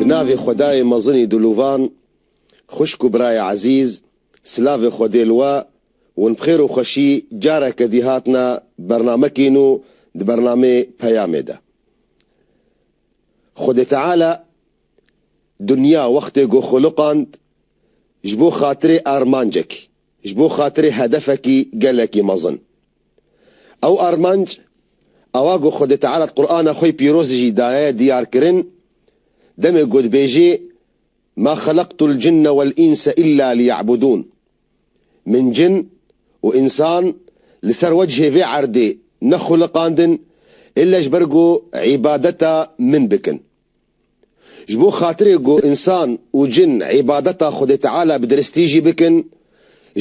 Bi navê Xwedayê mezinî Dûlûvan, xwişk û birayê ezîz, silavê xwe dê li we, hûn bi xêr û xweşî careke dî hatine bernamekîn û di bernamê Peyamê de Xwedê Teala dinya wextê ku xwiliqand ji bo xatirê armancekî Ji bo xatirê hedefekî gelekî mezin. Ew armanc, awa ku Xwedê Teala di Qur'ana xwe pîrozê jî daye diyarkirin, demê ku dibêjê, Ma xelaqtul cinne wel înse îlla liyebudûn, Min cin û însan li ser wecihê vê erdê nexuliqandin îlle ji ber ku îbadeta min bikin. Ji bo xatirê ku însan û cin îbadeta Xwedê Teala bi diristî jî bikin,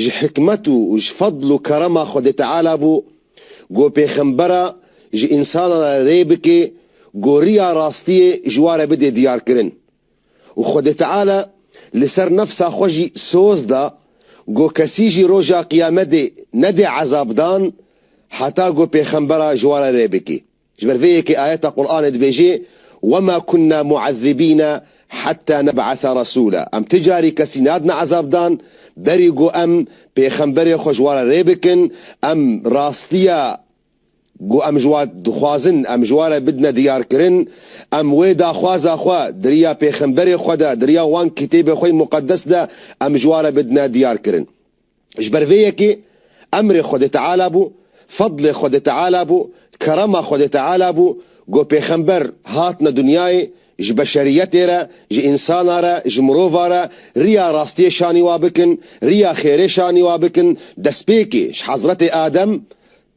ji hikmet û ji fedl û kerema Xwedê Teala bû ku pêxembera ji însanan re rê bike ku riya rastiyê ji wan re bide diyarkirin û Xwedê Teala li ser nefsa xwe jî soz da ku kesî jî roja qiyamedê nede ezabdan heta ku pêxembera ji wan re rê bike. Ji ber vê yekê ayeta Quranê dibêjê, Wema kunna muezzibîne heta neb'atha resûla, Em ti carî kesî nadine ezabdan berî ku em pêxemberê xwe ji wan re rê bikin, em rastiya ku em ji wan dixwazin em ji wan re bidine diyarkirin, em wê daxwaza xwe di riya pêxemberê xwe de, di riya wan kitêbê xwe yê muqedes de em ji wan re bidine diyarkirin. Ji ber vê yekê emrê Xwedê Teala bû, fedlê Xwedê Teala bû, kerema Xwedê Teala bû ku pêxember hatine dinyayê ji beşeriyetê re, ji însana re, ji mirova re riya rastiyê şanî wa bikin, riya xêrê şanî wa bikin, destpêkê ji Hezretê Adem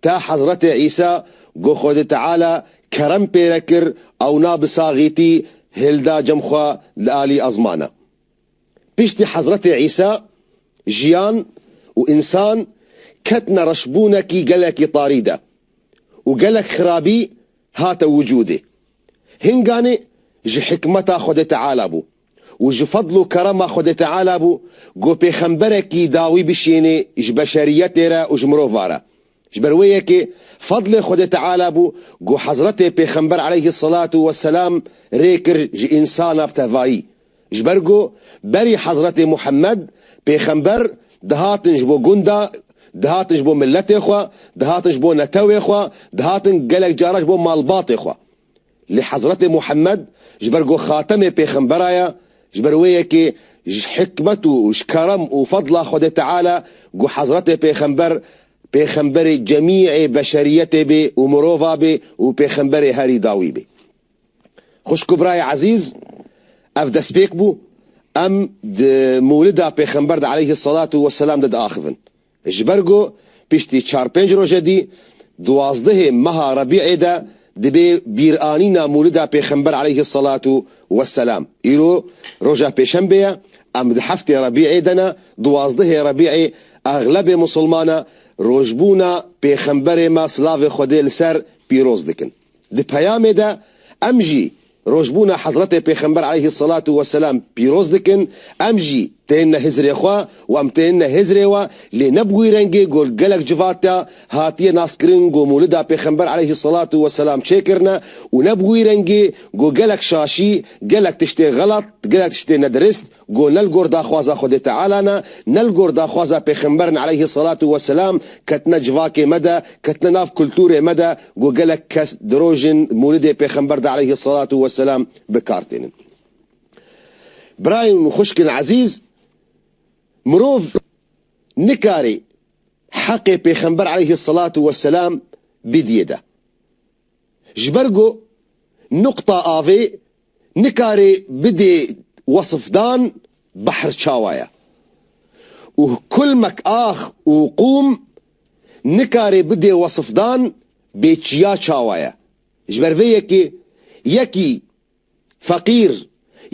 ta Hezretê Îsa ku Xwedê Teala kerem pê re kir ewna bi saxîtî hêlda cem xwe li alî ezmana. Piştî Hezretê Îsa, jiyan û însan ketine reşbûnekî gelekî tarî de û gelek xirabî hate wicûdê. Hinganê ji hikmeta Xwedê Teala bû û ji fedl û kerema Xwedê Teala bû ku pêxemberekî dawî bişênê ji beşeriyetê re û ji mirov re. Ji ber wê yekê fedlê Xwedê Teala bû ku Hezretê Pêxember aleyhî selatû we selam rê kir ji însana bi tevayî. Ji ber ku berî Hezretê Muhemmed, Pêxember, dihatin ji bo gunda, dihatin ji bo miletê xwe, dihatin ji bo netewê xwe, dihatin gelek cara ji bo malbatê xwe. Lê Hezretê Muhemmed ji ber ku xatemê pêxembera ye, ji ber wê ye kê ji hikmet û ji kerem û fedla Xwedê Teala ku Hezretê Pêxember pêxemberê cemîê beşeriyetê bê û mirova bê û pêxemberê herî dawî bê. Xwişk û birayê ezîz, ev destpêk bû, em di Mûlida Pêxember de aleyhî selatu weselam de diaxivin. Ji ber ku piştî çar pênc roje dî duwazdehê meha Rebî'ê de dibê bîranîna Mûlida Pêxember aleyhi selatu we selam. Îro roja pêşembê ye, em di heftê Rebî'ê de ne, duwazdehê Rebî'ê exlebê musilmana rojbûna Pêxemberê me silavê Xwedê li ser pîroz dikin. Di peyamê de em jî rojbûna Hezretê Pêxember aleyhî selatû weselam pîroz dikin, em jî tên ne Hizirê xwe û em tên ne Hizirê we, lê ne bi wî rengê ku gelek civata hatiye naskirin ku Mûlida Pêxember aleyhî selatû weselam çêkirine û ne bi wî rengê ku gelek şaşî, gelek tiştê xelat, gelek tiştê nedirist, Go ne li gor daxwaza Xwedê Teala ne, ne li gor daxwaza Pêxember ne aleyhî selatû we selam, ketine civakê me de, ketine nav kultûrê me de, go gelek kes di rojên Mûlidê Pêxember de aleyhî selatû we selam bi kar tênin. Birayên û xwişkên ezîz, mirov nikarî heqê Pêxember aleyhî selatû we selam bidîye de. Ji ber ku nuqta avê nikarê bidê wesifdan behr çawa ye û kulmek ax û qûm nikarê bidê wesifdan bê çiya çawa ye. Ji ber vê yekê yekî Feqîr,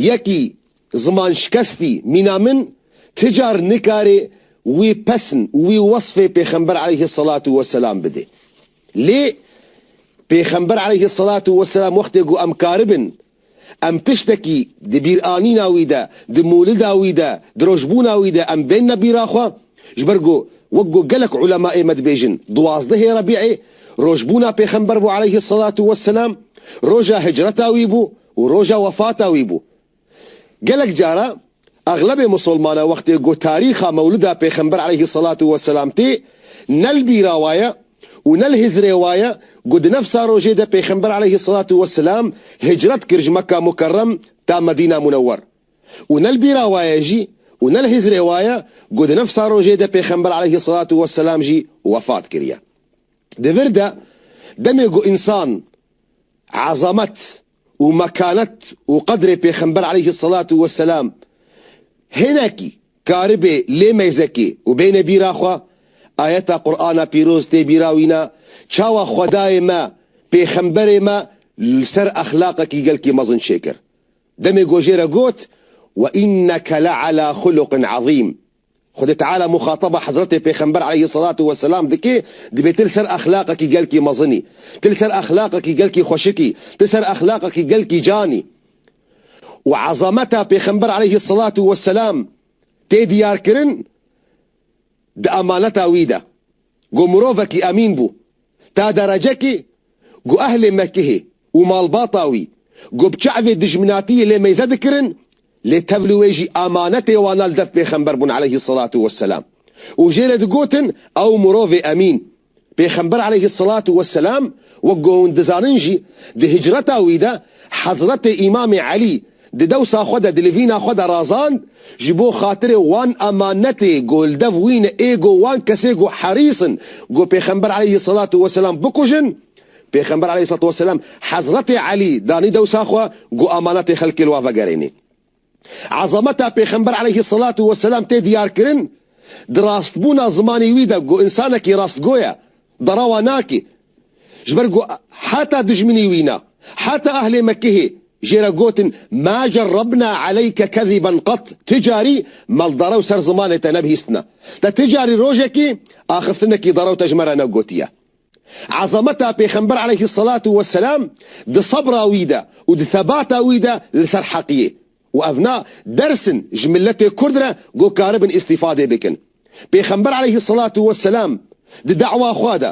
yekî zimanşikestî mîna min ti car nikarê wî pesn û wî wesfê Pêxember aleyhî selatû weselam bidê. Lê Pêxember aleyhî selatû weselam wextê got em karibin, em tiştekî di bîranîna wî de, di mûlida wî de, di rojbûna wî de em bênine bîra xwe, Ji ber ku wek ku gelek ulemaê me dibêjin duwazdehê Rebî'ê rojbûna pêxember bû aleyhî selatû we selam, roja hicreta wî bû û roja wefata wî bû. Gelek cara exlebê musulmana wextê ku tarîxa mewlida pêxember aleyhî selatû we selam tê ne li bîra wa ye û ne li hizrê wa ye ku di nefsa rojê de pêxember aleyhî selatû we selam hicret kir ji Mekka Mukerrem ta Medîna Munewwer. Û ne li bîra wa ye jî û ne li hîzrê wa ye ku di nifsa rojê de Pêxember aleyhî selatû we selam jî wefat kiriye. Di vir de demê ku însan ezamet û mekanet û qedrê Pêxember aleyhî selatû we selam hinekî karibe lê meyzekê û bêne bîra xwe, ayeta Qur'ana pîroz tê bîra wî ne, çawa Xwedayê me Pêxemberê me li ser exlaqekî gelkî mezin çêkir. Demê ku jê re got, Ve înneke le ala xuluqin ezîm. Xwedê Teala muxataba Hezretê Pêxember aleyhisselatu vesselam dike, dibê tu li ser exlaqekî gelkî mezin î. Tu li ser exlaqekî gelkî xweşik î. Tu li ser exlaqekî gelkî can î. Û ezameta Pêxember aleyhisselatu vesselam tê diyarkirin di emaneta wî de. Ku mirovekî emîn bû ta derecekê ku ehlê Mekihê û malbata wî ku bi çavê dijminatiyê lê meyze dikirin lê tev li wê jî emanetê wana li dev pêxember bûn aleyhî selatû weselam û jê re digotin ew mirovê emîn Pêxember aleyhî selatû weselam wek ku hûn dizanin jî di hicreta wî de Hezretê Îmamê Elî Di dewsa xwe de dilivîna xwe de razand, ji bo xatirê wan emanetê ku li dev wî ne ê ku wan kesê ku herîs in ku Pêxember aleyhî selatû weselam bikujin, Pêxember aleyhî selatû weselam Hezretê Elî danî dewsa xwe ku emanetê xelkê li wan vegerênî. Ezameta Pêxember aleyhî selatû weselam tê diyarkirin di rastbûna zimanê wî de ku însanekî rastgo ye, derawa nake, Ji ber ku heta dijminî wî ne, heta ehlê Mekkehê jê re gotin Ma cerrebna eleyke keziben qet, ti carî maldere û ser zimanê te nebihîstine, te ti carî rojekê axiftinekî derew te ji me re negotiye. Ezameta Pêxember eleyhîsselatu weselam di sebra wî de û di tebata wî de li ser heqiyê Û ev na ders in ji miletê kurd re ku karibin îstîfadê bikin. Pêxember aleyhî selatû we selam di dewa xwe de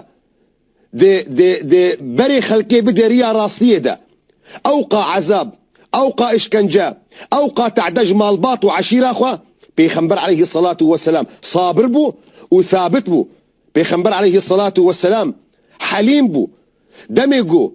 di di di berê xelkê bide riya rastiyê de. Ewqa ezab, ewqa îşkence, ewqa tade ji malbat û eşîra xwe Pêxember aleyhî selatû we selam sabir bû û thabit bû. Pêxember aleyhî selatû we selam helîm bû. Demê ku.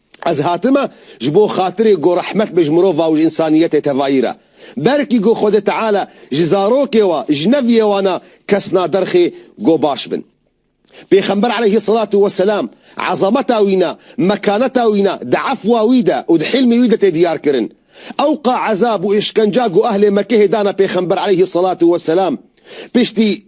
Ez hatime ji bo xatirê ku rehmet be ji mirova û ji însaniyetê tevayî re. Belkî ku Xwedê Teala ji zarokê wa, ji neviyê wan a kes naderxê ku baş bin. Pêxember eleyhî selatû weselam ezameta wî ne, mekaneta wî ne di efwa wî de û di hîlmê wî de tê diyar kirin. Ewqa ezab û îşkenca ku ehlê Mekehê dane Pêxember eleyhî selatû weselam piştî,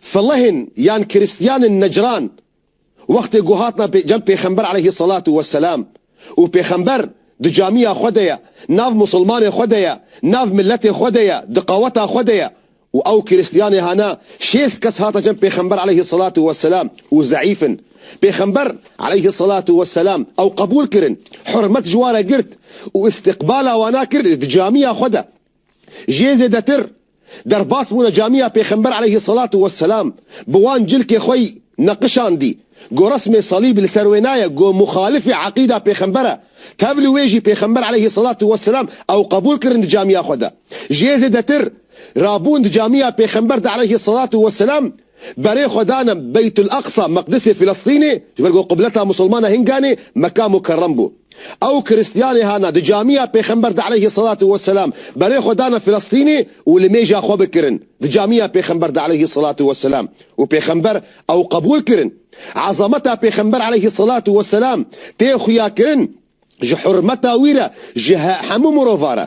Felehên yan Krîstiyanên Necran wextê ku hatna cem Pêxember aleyhî selatû we selam û Pêxember di camîya xwe de ye, nav Musilmanê xwe de ye, nav miletê xwe de ye, di qaweta xwe de ye û ew Krîstiyanê hana şêst kes hata cem Pêxember aleyhî selatû we selam û zeîf in. Pêxember aleyhî selatû we selam ew qebûl kirin, hurmet ji wan re girt û îstiqbala wana kir di camîya xwe de. Jê zêdetir Derbas bûne camiya Pêxember eleyhi selatû we selam bi wan cilkê xwe yî neqişandî. Go resmê salîb li ser wê naye, go muxalifê eqîda Pêxember e. Tevlî wê jî Pêxember eleyhi selatû we selam ew qebûl kirin di camiya xwe de. Ji yê zêdetir, rabûn di camiya Pêxember de eleyhi selatû we selam, Berê xwe danim Beytul Aqsa, Meqdisê Filistînê, ji ber ku qibleta Musilmana Hinganê Meka Mukerrem bû. Ew û Kiristiyanê hana di camiya Pêxember de aleyhî selatû we selam, berê xwe dana Filistînê û li mêja xwe bi kirin di camiya Pêxember de aleyhî selatû we selam û Pêxember ew qebûl kirin. Ezameta Pêxember aleyhî selatû we selam tê xuya kirin ji hurmeta wî re ji hemû mirovan re.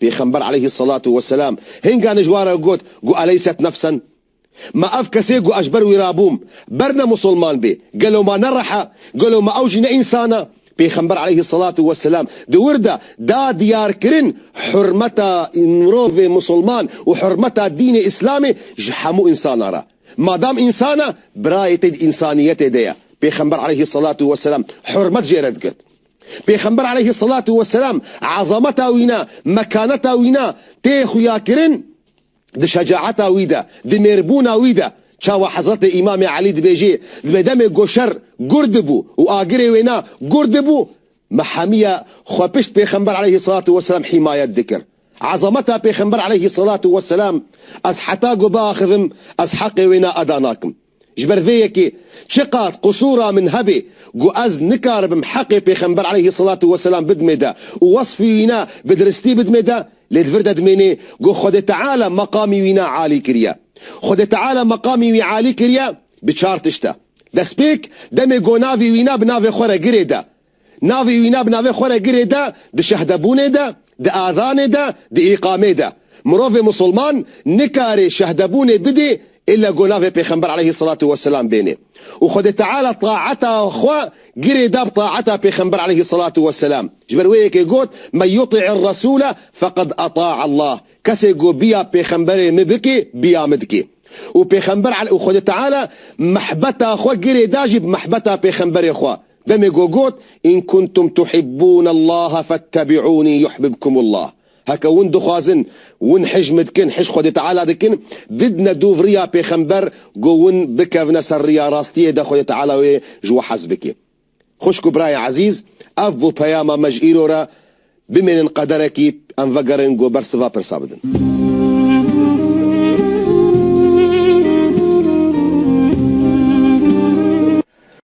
Pêxember aleyhî selatu weselam hênga nij wa re got, Gu eleyset nefsen? Ma ev kesê gu ez ji ber wî re bûm, ber ne musulman bê, gelo ma ne rih e? Gelo ma ew jî ne însan e? Pêxember aleyhî selatu weselam di wir de da diyarkirin hurmeta mirovê musulman û hurmeta dînê îslamê ji hemû însanan re. Madam însan e, birayê te di însaniyetê de ye. Pêxember aleyhî selatu weselam hurmet jê re digirt. Pêxember aleyhî selatû weselam ezameta wî ne, mekaneta wî ne tê xuyakirin di şecaeta wî de, di mêrbûna wî de. Çawa Hezretê Îmamê Elî dibêjê, Dibê demê goşer gur dibû û agirê wê ne gur dibû me hemîye xwe pişt pêxember aleyhî selatû weselam hîmayet dikir. Ezameta pêxember aleyhî selatû weselam ez heta ku biaxivim ez heqê wê ne eda nakim. Ji ber vê yekê çiqat qusûra min hebê ku ez nikaribim heqê Pêxember eleyhî selatû weselam bidmê de û wesfî wî ne bi diristî bidmê de, lê di vir de dimênê ku Xwedê Teala meqamî wî ne alî kiriye. Xwedê Teala meqamî wî alî kiriye bi çar tişt de. Destpêk, demê ku navê wî ne bi navê xwe re girê de, Navê wî ne bi navê xwe re girê de, di şehdebûnê de, di ezanê de, di îqamê de. Mirovê musulman nikarê şehdebûnê bidê îlle go navê pêxember aleyhî selatû weselam bênê. Û Xwedê Teala taeta xwe girê da bi taeta pêxember aleyhî selatû weselam. Ji ber wê yekê got, Men yutî'ir resûle feqed eta'a Allah. Kesê go biya pêxemberê mi bikê, biya mi dikê. Û pêxember û Xwedê Teala mehbeta xwe girê da jî bi mehbeta pêxemberê xwe. Demê ku got, In kuntum tuhibbûn Allaha fettebî'ûnî yuhbibkum Allah, heke hûn dixwazin, hûn hicm dikin, hicm Xwedê Teala dikin, bidne dûv riya pêxember ku hûn bikevne ser riya rastiyê de Xwedê Teala wê ji we hez bike. Xwişk û birayê ezîz, ev bû peyama me ji îro re, bimênin qederekî em vegerin ku bersiva pirsa bidin.